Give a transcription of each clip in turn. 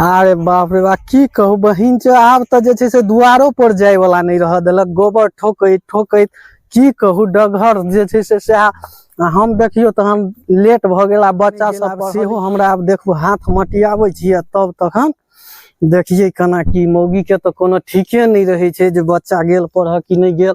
अरे बाप रे बाप की कहू बहिन छै आब तऽ जे छै से दुआरो पर जाय वाला नहि रह देलक गोबर ठोकैत ठोकैत की कहू डगहर जे छै से सएह आ हम देखियौ तऽ हम लेट भऽ गेल आ बच्चा गेल, सब आब पढ़ल- सेहो हमरा आब देखू हाथ मटियाबै छियै तब तखन देखियै केना की मौगी के तऽ कोनो ठीके नहि रहै छै जे बच्चा गेल पढ़ऽ कि नहि गेल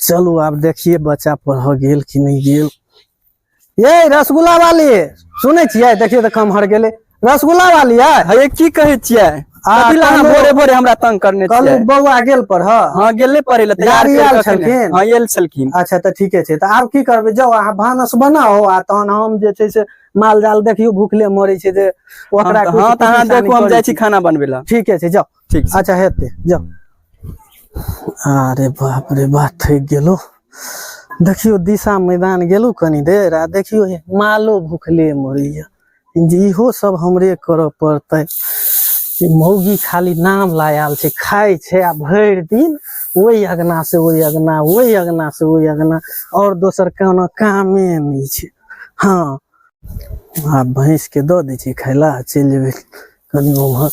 चलू आब देखिए बच्चा पढ़ गेल कि नहीं गेल ये रसगुल्ला वाली सुनै छियै देखियौ तऽ कम हर गेलै रसगुल्ला वाली है हे की कहै छियै आ, कथी लए अहाँ कहलहुँ- भोरे भोरे हमरा तंग करने छियै कहलहुँ बौआ गेल पढ़ हँ गेले पढ़े लए तैयार गाड़ी करि आयल कऽ अखने। छलखिन? हँ आयल छलखिन अच्छा तऽ ठीके छै तऽ आब की करबै जाउ अहाँ भानस बनाउ आ तहन हम जे छै से माल जाल देखियो भूखले मरे छै जे ओकरा हम- कुछ- हाँ, कुछ तऽ अहाँ निशानी देखू, हम करै जाइ छी छी। खाना बनबै लए। ठीके छै जाओ ठीक छै। अच्छा हेते जाओ अरे बाप रे बाप थक गेलो देखियो दिशा मैदान गेलो कनी देर आ देखियो हे मालो भूखले मरैया जे इहो सब हमरे करऽ पड़तै ई मौगी खाली नाम लायल छै खाइ छै आ भरि दिन ओहि अगना से ओहि अगना ओहि अगना से ओहि अगना और दोसर कोनो कामे नहि छै हाँ आ भैंस के दऽ दै छी खाय ला चलि जेबै कनि उम्हर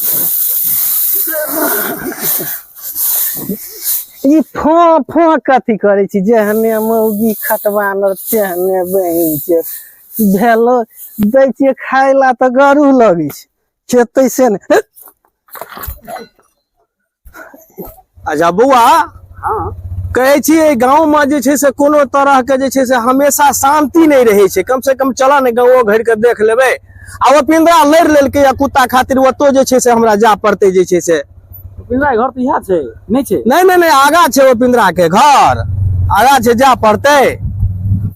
ई फो फो कथी करै छी जेहने मौगी खटबानर तेहने बहिन के भेलो दै छियै खाय ला तऽ गरू लगै छै खेतै से ने अच्छा बौआ हाँ कहै छी एहि गाँवमे जे छै से कोनो तरहके जे छै से हमेशा शांति नहि रहै छै कमसँ कम चलऽ ने गाँवो घरिके देख लेबै आ ओ पिंदरा लड़ि लेलकै या कुत्ता खातिर ओतौ जे छै से हमरा जाय पड़तै जे छै से पिंदरा घर तऽ इएह छै नहि छै नहि नहि नहि आगा छै ओ पिंदराके घर आगा छै जाय पड़तै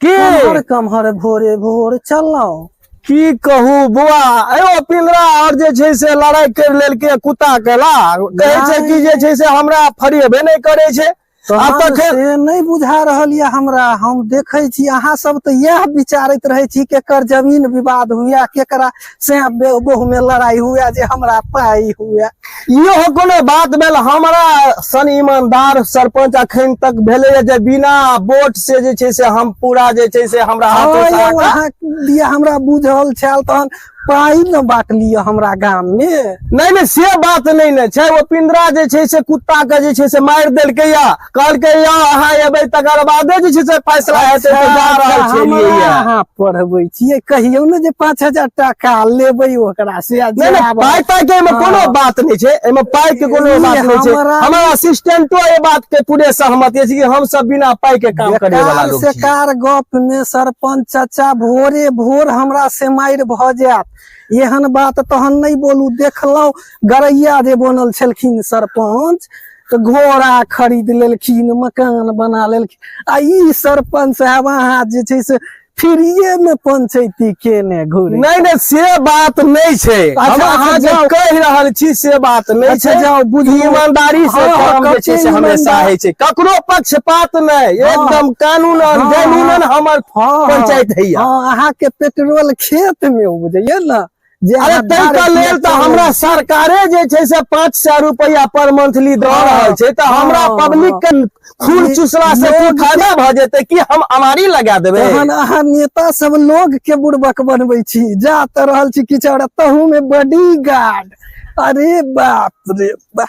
की कमहर कमहर भोरे भोर चललहुँ की कहू बौआ एगो पिंजरा और जे छै से लड़ाई कर लेलकै कुत्ता के ला कहै छै कि जे छै से हमरा फरियबे नहि करै छै आब तहन तखन से नहि बुझा रहल यऽ हमरा हम देखै छी अहाँ सब तऽ इएह विचारैत रहै छी केकर जमीन विवाद हुए केकरा से बहु में लड़ाई हुआ जे हमरा पाई हुआ यो कोनो बात भेल हमरा सन ईमानदार सरपंच अखन तक भेले जे बिना वोट से जे छै से हम पूरा जे छै से हमरा हाथ दिया हमरा बुझल छल तहन पाई न बात लिया हमरा गाम में नहीं नहीं से बात नहीं न छै ओ पिंदरा जे छै से कुत्ता के जे छै से मार देलकै या कहलकै यौ अहाँ एबै तकर बादे जे छै से फैसला हेतै तऽ जा रहल छलियै यऽ। अहाँ पढ़बै छियै कहियौ ने जे पाँच हजार टाका लेबै ओकरा से आ नहि नहि जायब। पाइ ताइ के एहिमे कोनो हँ। बात नहि छै एहिमे पाइ के कोनो ई बात नहि छै हमरा- हमर असिस्टेंटो एहि बात के पूरे सहमति अछि कि हम सब बिना पाइ के काम करे वाला बेकार लोग से छियै कार गप में सरपंच चाचा भोरे भोर हमरा से मारि भ जायत एहन बात तहन नहीं बोलू देखलहुं गरैया जे बनल छलखिन सरपंच तऽ घोड़ा खरीद लेलखिन मकान बना लेलखिन आ ई सरपंच साहब अहाँ जे छै से फ्रीए में पंचायती केने घुरे नहीं नहीं से बात नहीं छे हम अच्छा, अहाँ अच्छा, जे जाओ। कह रहल छी से बात नहीं अच्छा, छे जाओ, बुझू। ईमानदारी से हाँ, काम जे कते छै से हमेशा ईमानदार। है छै ककरो पक्षपात नहीं हाँ। एकदम कानून और हाँ, जमीनन हमर हाँ, पंचायत है हाँ अहाँ के पेट्रोल खेत में उपजैया ना जे अरे अहाँ तै दारू के लेल तऽ पीबै हमरा छी। सरकारे जे छै से पाँच सए रुपया पर मंथली दऽ हाँ, रहल छै तऽ हमरा हाँ, पब्लिक के खून हाँ। चूसला से की लोग- फायदा भऽ जेतै कि हम अमारी लगा देबै तहन अहाँ नेता सब लोग के बुड़बक बनबै छी जा तऽ रहल छी किछु और तहू में बॉडी गार्ड अरे बाप रे बाप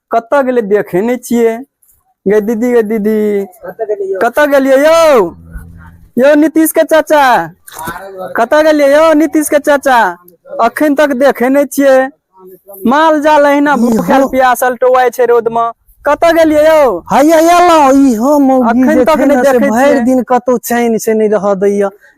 कतऽ गेलै देखे नहि छियै गे दीदी गे दीदी कतऽ गेलियै यौ यौ नीतीश के चाचा कतऽ गेलियै यौ नीतीश के चाचा अखन तक देखे नहि छियै माल जाल अहिना भूखल प्यासल टोवाय छै रोड मे कतऽ गेलियै यौ हैया एलहुँ ई हम अखन तक नहि देखै भरि दिन कतौ चैन से नहि रह दैया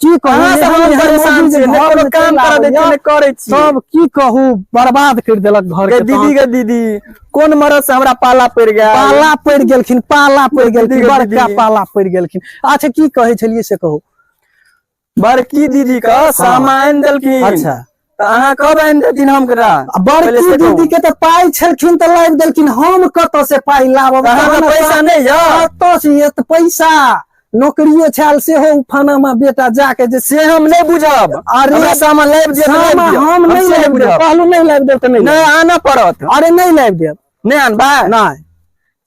की कहू अहाँ सब हम एहन परेशान मौगी जे छियै, ने घर कोनो में काम चलि करऽ दै छियै, आबैया, ने करै छियै। सब की कहू बर्बाद कर देलक घर गे के दीदी तहन। गे दीदी कोन मरद से हमरा पाला पड़ि गया पाला पड़ गेलखिन पाला पड़ दीदी गेलखिन के बड़का दीदी। पाला पड़ गेलखिन अच्छा की कहै छलियै से कहू बड़की दीदी का सामान देलखिन अच्छा तऽ अहाँ कब आनि देथिन हम करा आ बड़की दीदी के तऽ पाइ छलखिन तऽ लाबि देलखिन हम कतऽ से पाइ लाबब अहाँ तहन लग पैसा अपन- नहि यऽ कतऽ से एत पैसा नौकरियो छाल सेहो उफानामा बेटा जाके जे से हम नहि बुझब अरे, हमरा सामान लाबि दिअ तऽ लाबि सामा दिअ। हम नहि से लाबि देब बुझब कहलहुँ नहि लाबि देब तऽ नहि लाबि नहि आना पड़त देब। अरे नहि लाबि देब नहि अनबा नहि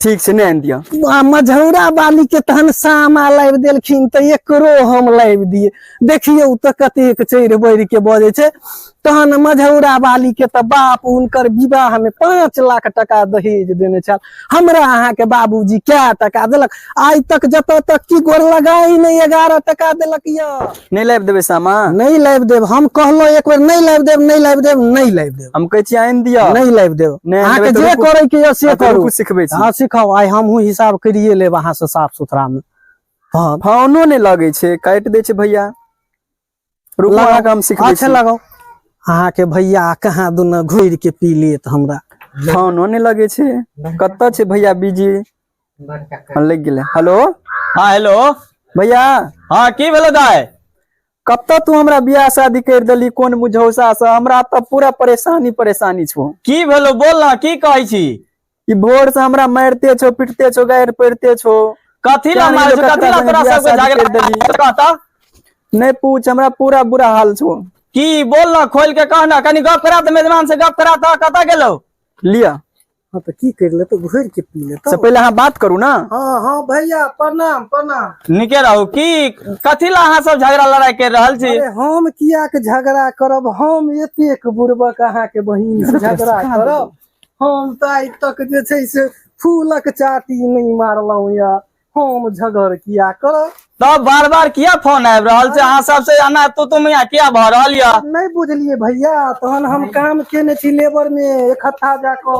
ठीक छै नहि आनि दिअ आ मझौरा बाली के तहन सामा लाबि देलखिन तऽ एकरो हम लाबि दिए देखियौ तऽ कतेक चढ़ि बढ़ि के बजै छै तहन मझौरा बाली के तऽ बाप हुनकर विवाह में पाँच लाख टका दहेज देने छल हमरा अहाँके बाबूजी कए टका देलक आइ तक जतऽ तक की गोर लगाई नहि एगारह टका देलक यऽ नहि लाबि देबै सामा नहि लाबि देब हम कहलहुँ एक बेर नहि लाबि देब नहि लाबि देब नहि लाबि देब हम कहै छी आनि दिअ नहि लाबि देब नहि अहाँके अनबै तऽ जे रुकू। करैके यऽ से अहाँके करू रुकू सिखबै छी हँ सिखाउ आइ हमहूँ हिसाब करिए लेब अहाँसँ साफ सुथरामे हँ फोनो नहि लगै छै काटि दै छै भैया रुकू लगाउ। अहाँके हम सिखबै अच्छा छी लगाउ अहाँके भैया कहाँ दुना घुरि के पी लेत हमरा फोनो नहि लगै छै कतऽ छै भैया बिजी हँ लागि गेलै हेलो हँ हेलो भैया हँ की भेलो दाय कतऽ तू हमरा बियाह शादी करि देली कोन मुझौसा से हमरा तऽ पूरा परेशानी परेशानी छौ की भेलो बोल ना की कहै छी ई भोर से हमरा मारिते छौ पिटते छौ गारि पड़ते छौ कथी ला मारै छौ कथी ला तोरा सबके झगड़ा देली कहता नहि पूछ हमरा पूरा बुरा हाल छौ की बोल ना खोल के कहना कनी गप करा त मेजबान से गप करा त कतऽ गेलो लिया हाँ तो की कर ले तो घर के पी ले से पहले अहाँ बात करू ना हाँ हाँ भैया प्रणाम प्रणाम निके रहू की कथी ला अहाँ सब झगड़ा लड़ाई कर रहल छी अरे हम किया के झगड़ा करब हम एतेक बुड़बक अहाँ के बहिन से झगड़ा करब हम तो आइ तक जे छै से फूलक चाटी नहीं मारलहुँ या हम झगड़ किया करब तब बार बार किया फोन आबि रहल छै अहाँ सबसे अना तू तुम यहाँ किया भऽ रहल यऽ नहि बुझलियै भैया तहन हम काम केने छी लेबर में एक हफ्ता जाकऽ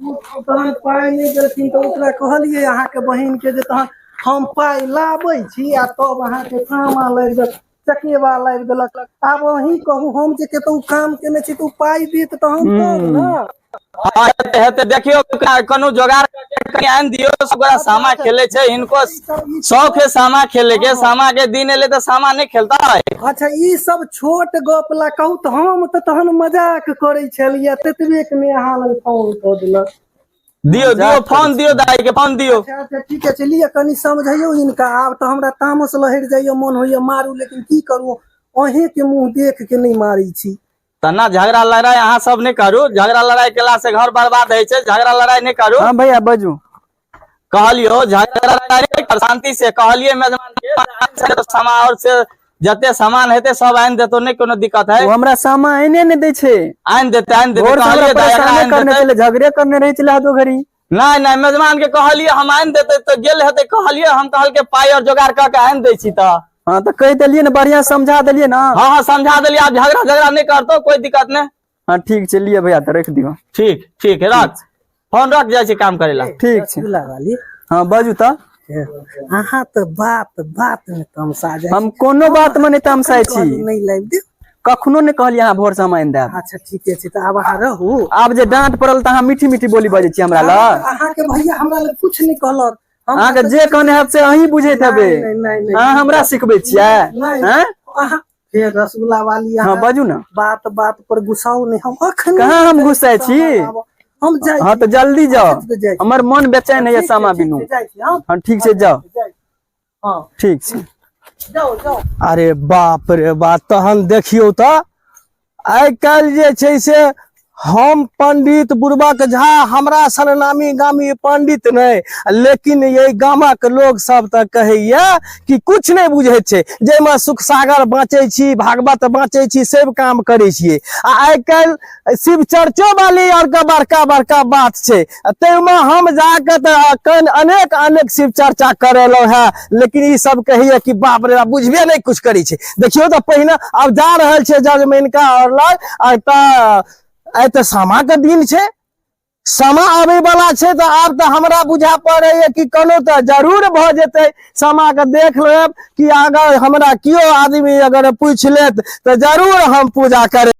उ तहन पाइ नहि देलखिन तऽ ओकरा कहलियै अहाँके बहिन के जे तहन हम पाइ लाबै छी आ तब अहाँके काम लग जायत चके वाला आबि गेलक आब अहीं कहू हम जे केतौ काम केने छी तऽ पाइ देत तहन तब ने हेतै देखियौ कोनो जोगार कनि आनि दियौ ओकरा सामा खेले छै इनको शौक है सामा खेले के सामा के दिन एले तऽ सामा नहि खेलता है अच्छा ई सब छोट गप ला कहू तऽ हम तऽ तहन मजाक करै छलियै ततबे के मे अहाँ लग फोन कऽ देलक दियो मजाक दियो फोन करै दियो छी। दाई के फोन दियो अच्छा अच्छा ठीक छै लिअ कनि समझैयौ इनका आब तऽ हमरा तामस लहरि जाइए मोन होइए मारू लेकिन की करू अहें के मुंह देख के नहीं मारी छी तना झगड़ा लड़ाई अहाँ सब नहीं करू झगड़ा लड़ाई केला से घर बर्बाद है छै झगड़ा लड़ाई नहीं करू हाँ भैया बाजू कहलियो झगड़ा लड़ाई नहीं कर शांति से कहलिए मेजमान के शांति से समाओ से जते सामान हेते सब आनि देतो नहि कोनो दिक्कत है ओ हमरा सामा एने ने दै छै आनि देते आनि देते भोर से हमरा कहलिए दाय एकरा परेशाने आनि करने देते छलै झगड़े करने रहै छलै हदो घड़ी नहि नहि मेजबान के कहलिए हम आनि देते तऽ गेल हेते कहलिए हम कहलके पाइ और जोगाड़ कऽ के आनि दै छी तऽ हाँ तऽ कहि देलियै ने बढ़िया समझा देलियै ने हाँ हाँ समझा देलिए आब झगड़ा झगड़ा नहि करतो कोई दिक्कत नहि हाँ ठीक छै लिए भैया तऽ रख दियो ठीक ठीक है रख फोन रख जाए काम करे ला ठीक छै हाँ बाजू तऽ अहाँ तऽ बात बात में तमसा जाए हम कोनो बात में नहीं तमसाए छी नहीं लाइव दे कखनो ने कहलिए अहाँ भोर से हम आनि देब अच्छा ठीके छै तऽ आब अहाँ रहू आब जे डांट पड़ल तऽ अहाँ मीठी मीठी बोली बजे छी हमरा लग अहाँ के भैया हमरा लग कुछ नहीं कहलक अहाँ के जे कहने है से अहीं बुझे हेबै अहाँ हमरा सिखबै छियै हैं फेर रसगुल्ला वाली हँ अहाँ बाजू ने बात बात पर गुस्साओ नहि हम अखन कहाँ हम गुस्सा छी हम जाइ हँ तऽ जल्दी जाओ छी, जाइ छी। हमर मन बेचैन होइए ठीक छै, सामा ठीक बिनु छै, जाइ छी, हँ, हँ ठीक छै जाओ जाइ छी। हँ ठीक छै जाओ जाओ अरे बाप रे बाप तहन देखियौ तऽ आइ काल्हि जे छै से हम पंडित बुर्बक झा हमरा सन नामी गामी पंडित नहि लेकिन ये गामक लोग सब तऽ कहैया कि कुछ नहि बुझे छै जाहिमे सुख सागर बाँचै छी भागवत बाँचै छी सब काम करै छियै आ आइ काल्हि शिव चर्चो वाली आर के बड़का बड़का बात छै ताहिमे हम जाके तऽ अखन अनेक अनेक शिव चर्चा करेलहुँ हेँ लेकिन ई सब कहिए कि बाप रे बाप बुझबे नहि कुछ करै छै देखियौ तऽ पहिने आब जा रहल छै जजमैन का और लग आ तऽ आइ तऽ सामा के दिन छै सामा आबे वाला छै तऽ आब तऽ हमरा बुझा पड़ैए कि कोनो तऽ जरूर भऽ जेतै सामा के देख लेब कि अगर हमरा केओ आदमी अगर पूछि लेत तऽ जरूर हम पूजा करब